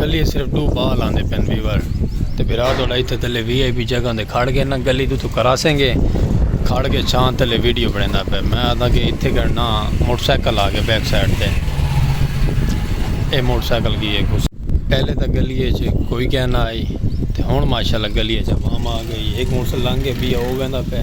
گلی صرف دو بال آندے پین ویور تے بھرا تو لائی تے تلے وی آئی پی جگہ دے کھڑ گئے نا گلی دو تو کراسیں گے کھڑ گئے چھان تلے ویڈیو بڑھیں دا پہ میں آتا کہ اتھے کرنا موٹر سائیکل آگے بیک سائٹ تے اے موٹر سائیکل کی ایک اس پہلے تا گلی ہے چھے کوئی کہنا آئی تے ہون ماشاءاللہ گلی ہے چھے وہاں آگے ایک موٹر سائیکل لانگے بھی آگے دا پہ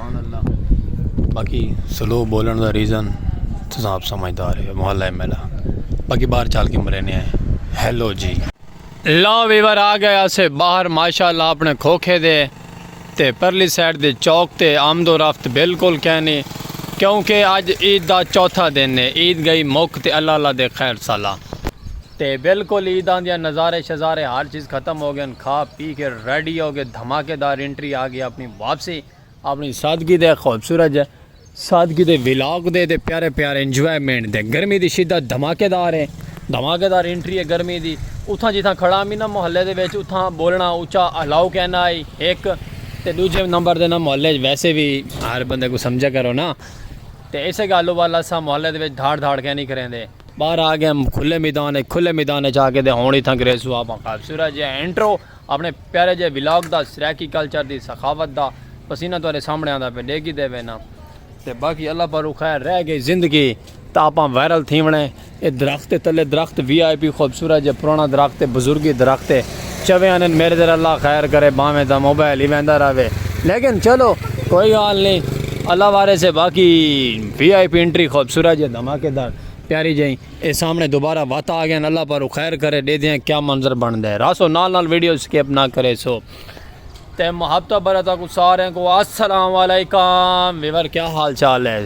سبحان اللہ باقی سلو بولن دا ریزن تساں آپ سمجھدار ہے محلہ ایم ایل اے باقی باہر چال کے مرینے ہیں ہیلو جی لا ویور آ گئے اسے باہر ماشاءاللہ اپنے کھوکھے دے تے پرلی سائڈ دے چوک تے آمد و رفت بالکل کینی کیونکہ اج عید دا چوتھا دن ہے عید گئی مک تے اللہ اللہ دے خیر سالا تے بالکل عیداں دیاں نظارے شظارے ہر چیز ختم ہو گئن کھا پی کے ریڈی ہو کے دھماکے دار انٹری آ گئی اپنی واپسی۔ اپنی سادگی دے خوبصورت جے سادگی دے ولاگ دے تے پیارے پیارے انجوائمنٹ دے گرمی دی شدت دھماکے دار ہے دھماکے دار انٹری ہے گرمی دی اتھاں جتھاں کھڑا ہمی نا محلے دے وچ اتھاں بولنا اچا الاؤ کینا ہئی ہک تے ڈوجھے نمبر دے نا محلے وچ ویسے وی ہر بندے کو سمجھے کرو نا تے اسے گالو والا سا محلے دے وچ دھاڑ دھاڑ کینی کریندے۔ باہر آ گئے ہم کھلے میدان ہے کھلے میدان ہے جا کے دے ہونی تھا گریس ہوا پا خواب سورہ جے انٹرو اپنے پیارے جے ولاگ دا سریکی کلچر دی سخاوت دا پسینہ تو آرے سامنے آندہ پہ ڈیگی دے وینا تے باقی اللہ پر روخہ رہ گئی زندگی تا اپا ویرل تھی ونے اے درخت تلے درخت وی آئی پی خوب سورہ جے پرانا درخت بزرگی درخت ہے چویں آندن میڈے تیرے اللہ خیر کرے بھاویں تاں موبائل ہی ویندا رہوے لیکن چلو کوئی گال نی اللہ وارث ہے باقی وی آئی پی انٹری خوبصورت جے دھماکے دار پیاری جئیں اے سامنے دوبارہ وات آ گئے اللہ پارو خیر کرے ڈے دیاں کیا منظر بن دے راسو نال نال ویڈیو سکیپ نہ کرے سو تے محبت برتا کو سارے کو السلام علیکم ویور کیا حال چال ہے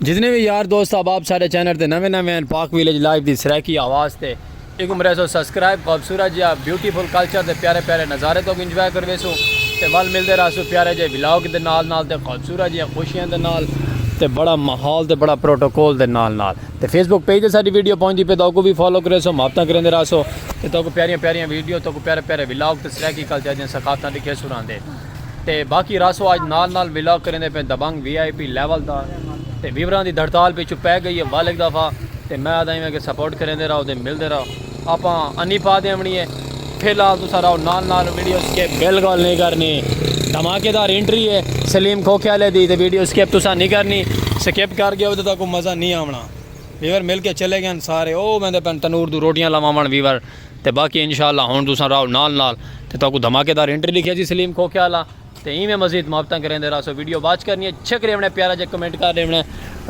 جتنے بھی یار دوست آپ آپ سارے چینل تے نویں نویں ہیں پاک ویلیج لائف دی سرائیکی آواز تے ایک عمرے سو سبسکرائب خوبصورت جیا بیوٹیفل کلچر تے پیارے پیارے نظارے تو انجوائے کروے سو تے ول ملدے رہا سو پیارے جے ولاگ دے نال نال تے خوبصورت جیا خوشیاں دے نال تے بڑا ماحول تے بڑا پروٹوکول دے نال نال تے فیس بک پیج تے ساری ویڈیو پہنچ دی پہ تو کو بھی فالو کرے سو محبتاں کریں دے رہا سو تے تو کو پیاریاں پیاریاں ویڈیو تو کو پیارے پیارے ولاگ تے سرائیکی کلچر جن ثقافتاں دکھے سو رہاں دے تے باقی راسو آج نال نال ولاگ کریندے پئے دبنگ وی آئی پی لیول دا تے ویوراں دی دھڑتال پچھوں پے گئی اے ول ہک دفعہ تے میں آدھاں ایویں کہ سپورٹ کریندے راہو تے ملدے راہو آپاں انی پا دیونڑی اے فی الحال تساں راہو نال نال ویڈیو سکپ بالکل نی کرنی دھماکے دار انٹری اے سلیم کھوکھے آلے دی تے ویڈیو سکپ تساں نی کرنی سکپ کر گیو تے تہاکوں مزہ نی آونڑاں ویور مل کے چلے گئن سارے او ویندے پئن تنور دو روٹیاں لواونڑ ویور تے باقی انشاءاللہ ہن تساں راہو نال نال تے تہاکوں دھماکے دار انٹری لکھیا جی سلیم کھوکھے آلا تے ایویں مزید محبتاں کریندے راہسو ویڈیو واچ کرنی اے چھک ریونڑ اے پیارا جیا کمنٹ کر ریونڑ اے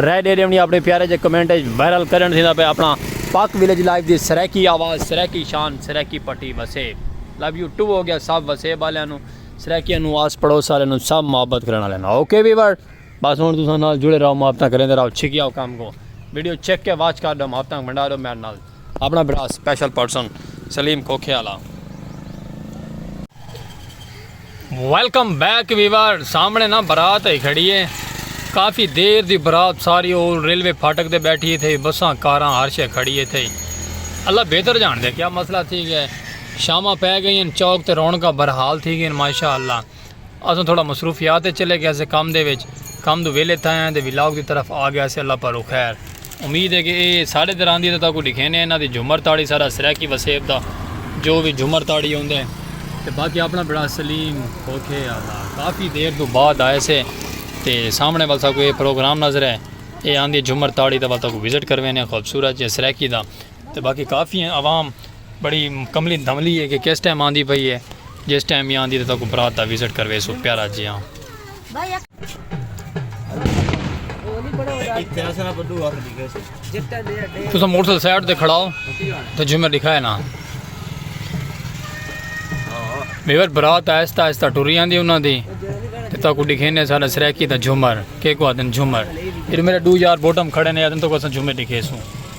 رائے ڈے ریونڑی اپنے پیارے جے کمنٹ اچ وائرل کرنڑ تھیندا پے اپنا پاک ویلیج لائیو دی سرائیکی آواز سرائیکی شان سرائیکی پٹی وسیب لو یو ٹو ہو گیا سب وسیب آلیاں نو سرائیکیاں نو آس پڑوس آلیاں نو سب محبت کرن آلیاں نو اوکے ویور بس ہن تساں نال جڑے راہو محبتاں کریندے راہو چھکیا کم کو ویڈیو چھک کے واچ کر ڈو محبتاں بنڈا ڈو میرے نال اپݨا بھرا سپیشل پرسن سلیم کھوکھے آلا۔ ویلکم بیک ویور سامنے نا برات ہئی کھڑی ہے کافی دیر دی برات ساری او ریلوے پھاٹک تے بیٹھی ہے تھئی بساں کاراں ہر شے کھڑی ہے تھئی اللہ بہتر جاندے کیا مسئلہ تھی گیا ہے شاماں پے گئین چوک تے رونقاں برحال تھی گئین ماشاءاللہ اساں تھوڑا مصروفیات اچ چلے گیسے کم دے وچ کم توں ویلھے تھیاں تے ولاگ دی طرف آ گیسے اللہ پاروں خیر امید ہے کہ اے ساڑے تے راندی ہے تاں تاکوں ڈکھینے انہاں دی جھمر تاڑی سارا سرائیکی وسیب دا جو وی جھمر تاڑی ہوندے ہیں تے باقی اپنا بڑا سلیم کھوکھے آلا کافی دیر توں بعد آئے سے تے سامنے والسا کو اے پروگرام نظر ہے اے آندی جھمر تاڑی دا والسا کو وزٹ کروینے خوبصورت جے سرائیکی دا تے باقی کافی ہیں عوام بڑی کملی دھملی ہے کہ کس ٹائم آندی پئی ہے جس ٹائم بھی آندی تو کو برات دا وزٹ کروے سو پیارا جی ہاں تسا موٹر سائیکل سائیڈ تے کھڑاؤ تو جمعہ دکھائے نا میور برات آہستہ آہستہ ٹری آندی انہاں دی تے تا کو دکھینے سارا سریکی دا جھمر کے کو آدن جھمر پھر میرے دو یار بوٹم کھڑے نے آدن تو کو اساں جھمر دکھے سوں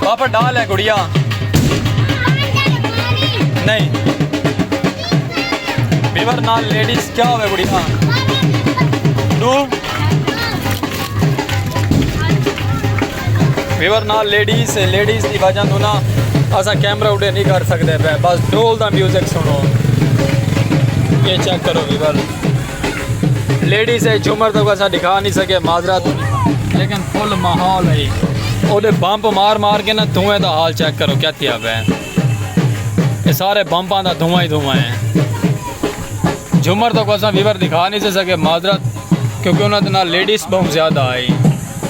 پاپا ڈال ہے گڑیا نہیں بیور نال لیڈیز کیا ہوئے گڑیا دو بیور نال لیڈیز لیڈیز دی وجہ تو نا اسا کیمرہ اڈے نہیں کر سکتے پہ بس ڈول دا میوزک سنو یہ چیک کرو بیور لیڈیز ہے جھومر تو اسا دکھا نہیں سکے معذرت لیکن فل ماحول ہے او دے بمپ مار مار کے نا دھوئیں دا حال چیک کرو کیا تیا پہ اے سارے بمپاں دا دھواں ہی دھواں ہے جھومر تو اسا ویور دکھا نہیں سکے معذرت کیونکہ انہاں دے نال لیڈیز بہت زیادہ آئی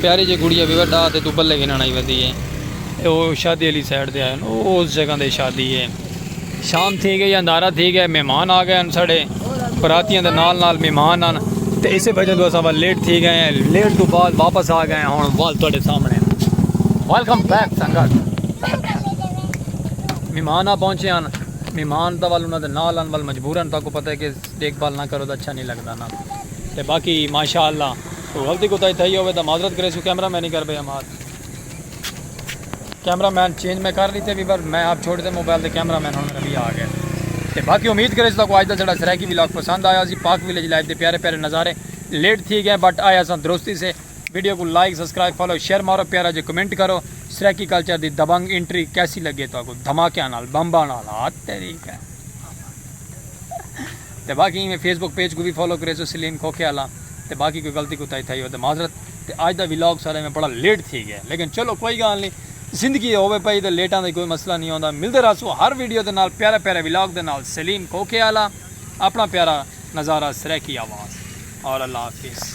پیاری جی گڑیا بھی وڈا تے تو بلے گھنن آئی ودی ہے۔ او شادی علی سائیڈ دے آئے ہن۔ او اس جگہ دے شادی ہے۔ شام تھی گئی اندھارا تھی گیا مہمان آ گئے ہن ساڈے۔ براتیاں دے نال نال مہمان ہن۔ تے اسے بھجن تو اساں ول لیٹ تھی گئے ہیں۔ لیٹ تو بعد واپس آ گئے ہیں ہن ول تواڈے سامنے ہیں۔ ویلکم بیک سنگت۔ مہمان آ پہنچے ہن۔ مہمان تاں ول انہاں دے نال ہن ول مجبورا تاکوں پتہ ہے کہ۔ دیکھ بھال نہ کرو تاں اچھا نی لگدا نا تے باقی ماشاء اللہ کوئی غلطی کوتاہی تھئی ہووے تاں معذرت کریسوں کیمرہ مین ہی کر بھئی ہمار کیمرہ مین چینج میں کر لیتے بھی پر میں آپ چھوڑ دیتے موبائل تے کیمرہ مین ہن میرا وی آ گئے تے باقی امید کریسوں تاں کو اج دا ساڈا سرائیکی ولاگ پسند آیا ہوسی پاک ولیج لائف دے پیارے پیارے نظارے لیٹ تھی گئے بٹ آئے اساں درستی سے ویڈیو کوں لائک سبسکرائب فالو شیئر مارو پیارا جے کمنٹ کرو سرائیکی کلچر دی دبنگ انٹری کیسی لگے تہاکوں دھماکیاں نال بمباں نال ہا تیری کیا تے باقی ایویں فیس بک پیج کوں وی فالو کریسو سلیم کھوکھے آلا تے باقی کوئی غلطی کوتاہی تھئی ہوے تے معذرت تے اج دا ولاگ سارا ایویں بڑا لیٹ تھی گیا لیکن چلو کوئی گالھ نی زندگی اے ہووے پئی تے لیٹاں دا کوئی مسئلہ نی ہوندا ملدے رہسوں ہر ویڈیو دے نال پیارے پیارے ولاگ دے نال سلیم کھوکھے آلا اپنا پیارا نظارہ سرائیکی آواز اور اللہ حافظ۔